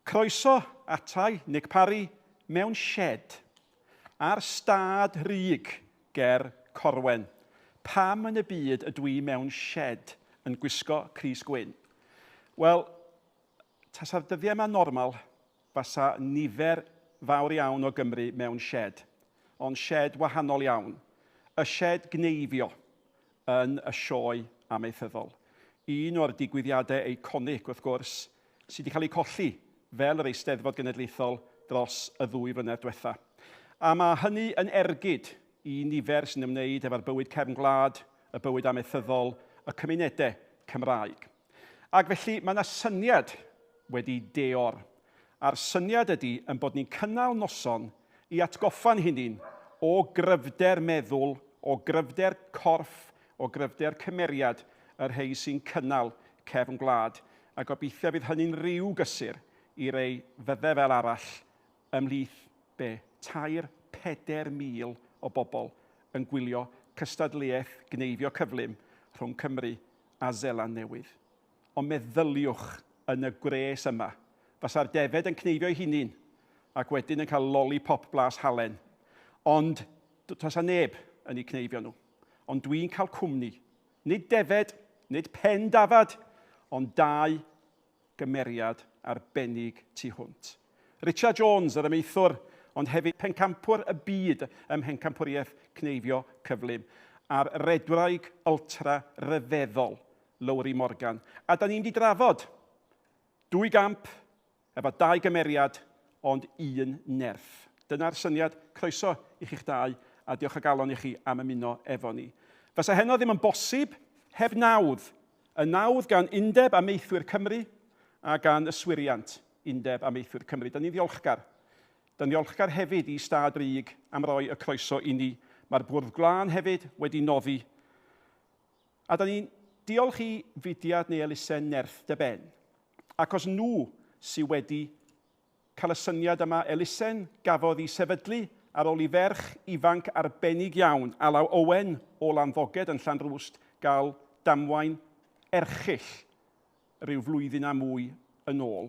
Croeso atai, Nick Parry, mewn sied ar stad ryg ger Corwen. Pam yn y byd ydw i mewn sied yn gwisgo crys gwyn? Wel, tasa'r dyddiau yma normal, fasa nifer fawr iawn o Gymry mewn sied. Ond sied wahanol iawn. Y sied gneifio yn y Sioe Amaethyddol. Un o'r digwyddiadau eiconig, wrth gwrs, sydd wedi cael eu colli fel yr Eisteddfod Genedlaethol dros y ddwy flynedd diwetha'. A mae hynny yn ergyd i nifer sy'n ymwneud efo'r bywyd cefn gwlad, y bywyd amaethyddol, y cymunedau Cymraeg. Ac felly mae 'na syniad wedi deor, a'r syniad ydy ein bod ni'n cynnal noson i atgoffa'n hunain o gryfder meddwl, o gryfder corff o gryfder cymeriad y rhei sy'n cynnal cefn gwlad, a gobeithia fydd hynny'n ryw gysur i rei fydde fel arall ymhlith, be, tair, peder mil o bobl yn gwylio cystadleuaeth gneifio cyflym rhwng Cymru a Zeland Newydd. Ond meddyliwch, yn y gwres yma, fasa'r defaid yn cneifio'i hunin, ac wedyn yn cael lolipop blas halen, ond tasa neb yn eu cneifio nhw. ond dwi'n cael cwmni. Nid defaid, nid pen dafad, ond dau gymeriad arbennig tu hwnt. Richard Jones, yr amaethwr, ond hefyd pencampwr y byd ym mhencampwriaeth cneifio cyflym, a'r redwraig ultra ryfeddol, Lowri Morgan. A da ni'n mynd i drafod dwy gamp Efo dau gymeriad, ond un nerth. Dyna'r syniad. Croeso i chi'ch dau, a diolch o galon i chi am ymuno efo ni. Fasa heno ddim yn bosib heb nawdd. Y nawdd gan Undeb Amaethwyr Cymru a gan Yswiriant Undeb Amaethwyr Cymru. Dyn ni'n ddiolchgar. Dyn ddiolchgar hefyd i Stad Brig am roi y croeso i ni. Mae'r Bwrdd Glân hefyd wedi noddi. A dyn ni'n diolch i fudiad neu elusen Nerth dy Ben Achos nhw sy wedi cael y syniad yma, elusen gafodd i sefydlu ar ol i ferch ifanc arbennig iawn, Alaw Owen o Landdogged yn Llanrwst gael damwain erchyll ryw flwyddyn a mwy yn ol.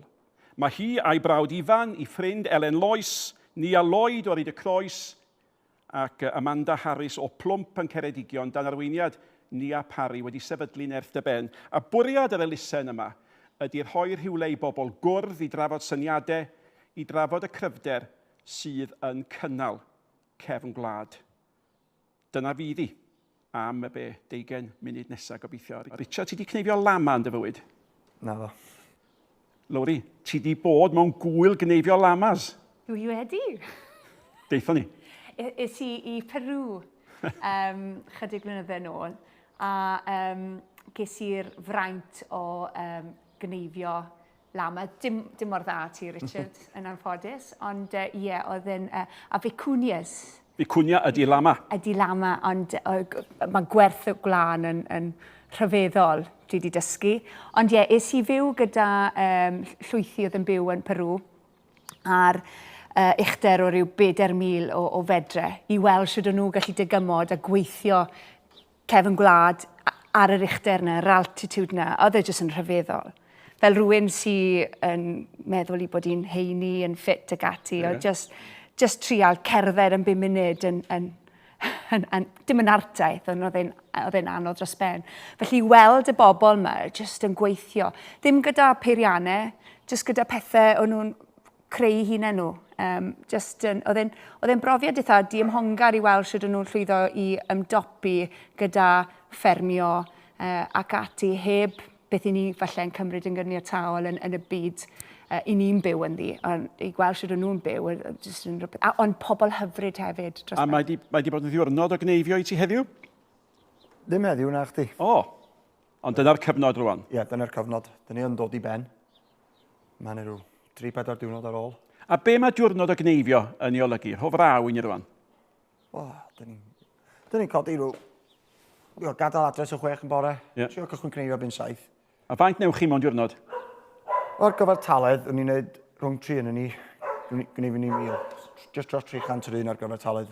Mae hi a'i brawd Ifan, 'i ffrind Elen Lois, Nia Lloyd o Ryd-y-Croes, ac Amanda Harris o Plwmp yn Ceredigion dan arweiniad Nia Parry wedi sefydlu Nerth Dy Ben a bwriad yr elusen yma ydi rhoi rhywle i bobl gwrdd i drafod syniade i drafod y cryfder sydd yn cynnal cefn gwlad. Dyna fydd i. Am y be? Deugain munud nesa gobeithio. Richard, ti di cneifio lama yn dy fywyd? Naddo. Lowri, ti di bod mewn gwyl gneifio lamas? Dwi wedi. Deithon ni. Is i i Peru um, chydig flynydde nôl a um, ges i'r fraint o um, gneifio la ma dim dim mor dda ti Richard yn anffodus ond uh, ie oedd yn uh, a vicunias Vicunia ydy lama. Ydy lama, ond mae gwerth y gwlân yn, yn rhyfeddol, dwi wedi dysgu. Ond ie, yeah, es i fyw gyda um, llwythi oedd yn byw yn Peru ar uh, uchder o ryw 4,000 o, o fedre i weld sydd o'n nhw gallu dygymod a gweithio cefn gwlad ar yr uchder 'na, yr altitude 'na, oedd e jyst yn rhyfeddol. Fel rhywun sydd yn meddwl i bod hi'n heini, yn ffit ac ati, yeah. oedd jyst, jyst trial cerdded yn bum munud yn, yn, yn, yn, dim yn artaeth, ond oedd e'n anodd dros ben. Felly weld y bobl yma jyst yn gweithio, ddim gyda peiriannau, jyst gyda pethau o'n nhw'n creu hunain nhw. Um, just yn, oedd e'n, oedd e'n brofiad eitha diymhongar i weld sydd nhw'n llwyddo i ymdopi gyda ffermio uh, ac ati heb beth i ni falle'n cymryd yn gyniataol yn, yn y byd uh, i ni'n byw yn ddi, ond i gweld sydd nhw'n byw, just yn rhywbeth, a, ond pobl hyfryd hefyd. Dros a mae di, mae di bod yn ddiwrnod o gneifio i ti heddiw? Ddim heddiw na chdi. O, ond dyna'r cyfnod rwan. Ie, yeah, dyna'r cyfnod. Dyna ni yn dod i ben. Mae yna rhyw 3-4 diwrnod ar ôl. A be mae diwrnod o gneifio yn ei olygu? Rho fraw i ni rwan. Wel, dyn ni'n dyn ni codi rhyw... Dio, gadael adres o chwech yn bore. Yeah. Sio cychwyn cneifio byn saith. A faint newch chi mewn diwrnod? O'r gyfartaledd, o'n i'n gwneud rhwng tri yn ni. Gwneud ni mil. Just dros 300 yr un ar gyfartaledd.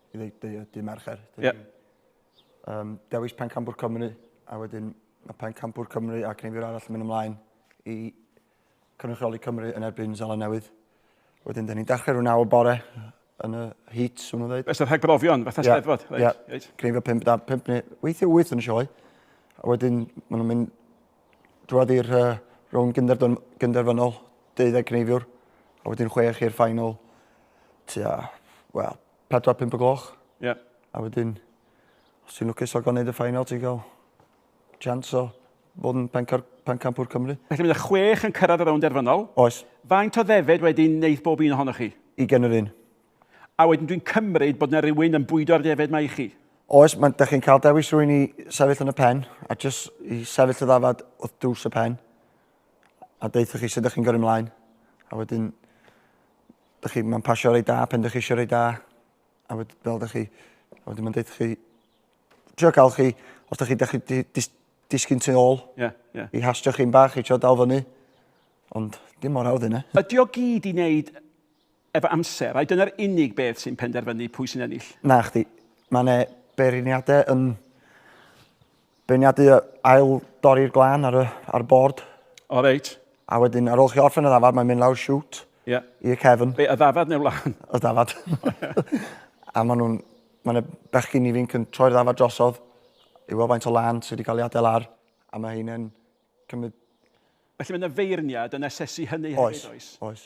i ddeud dy, dy mercher. Ie. Yeah. Um, dewis pencampwr Cymru, a wedyn mae pencampwr Cymru a cneifwyr arall yn mynd ymlaen i cynrychioli Cymru yn erbyn Zala Newydd. Wedyn, dyn ni'n dechrau rhywun awr bore yn y heat, swn nhw'n dweud. Ystod rhag brofion, fatha yeah. steddfod. Ie, yeah. right. cneifio 5 da, 5 neu weithio 8 yn y sioe. A wedyn, maen nhw'n mynd Drwodd i'r uh, rownd gynderfynol, deuddeg cneifiwr, a wedyn chwech i'r ffainol, tua, wel, 4-5 o gloch. Ie. Yeah. A wedyn, os ti'n lwcus o gael gwneud y ffainol, ti'n cael chance o fod yn pencampwr Cymru. Felly mae'n chwech yn cyrraedd y rownd derfynol. Oes. Faint o ddefed wedyn wneud bob un ohonoch chi? I gen yr un. A wedyn dwi'n cymryd bod yna rhywun yn bwydo'r defaid mae i chi. Oes, mae'n da chi'n cael dewis rwy'n i sefyll yn y pen, a jyst i sefyll y ddafad wrth dws y pen, a deitha chi sut ydych chi'n gyrru mlaen, a wedyn, dych chi, mae'n pasio rei da, pen dych chi eisiau rei da, a wedyn, fel dych chi, a wedyn mae'n deitha chi, trio cael chi, os dych chi, dych chi di, dis, disgyn tu ôl, yeah, yeah. i hastio chi'n bach, i trio dal fyny, ond dim mor hawdd yna. Ydy o gyd i wneud Efo amser, ai dyna'r unig beth sy'n penderfynu pwy sy'n ennill? Nachdi. Mae yna beirniadau yn beirniadu ail dorri'r glân ar, y, ar bord. O, reit. A wedyn, ar ôl chi orffen y ddafad, mae'n mynd lawr siwt yeah. i'r cefn. Be, y ddafad neu wlân? Y ddafad. a maen nhw'n... Mae yna bechgyn ifinc yn troi'r ddafad drosodd i weld faint o lân sydd wedi cael ei adael ar, a mae hynny'n cymryd Felly mae yna feirniad yn asesu hynny hefyd, oes? Oes, oes.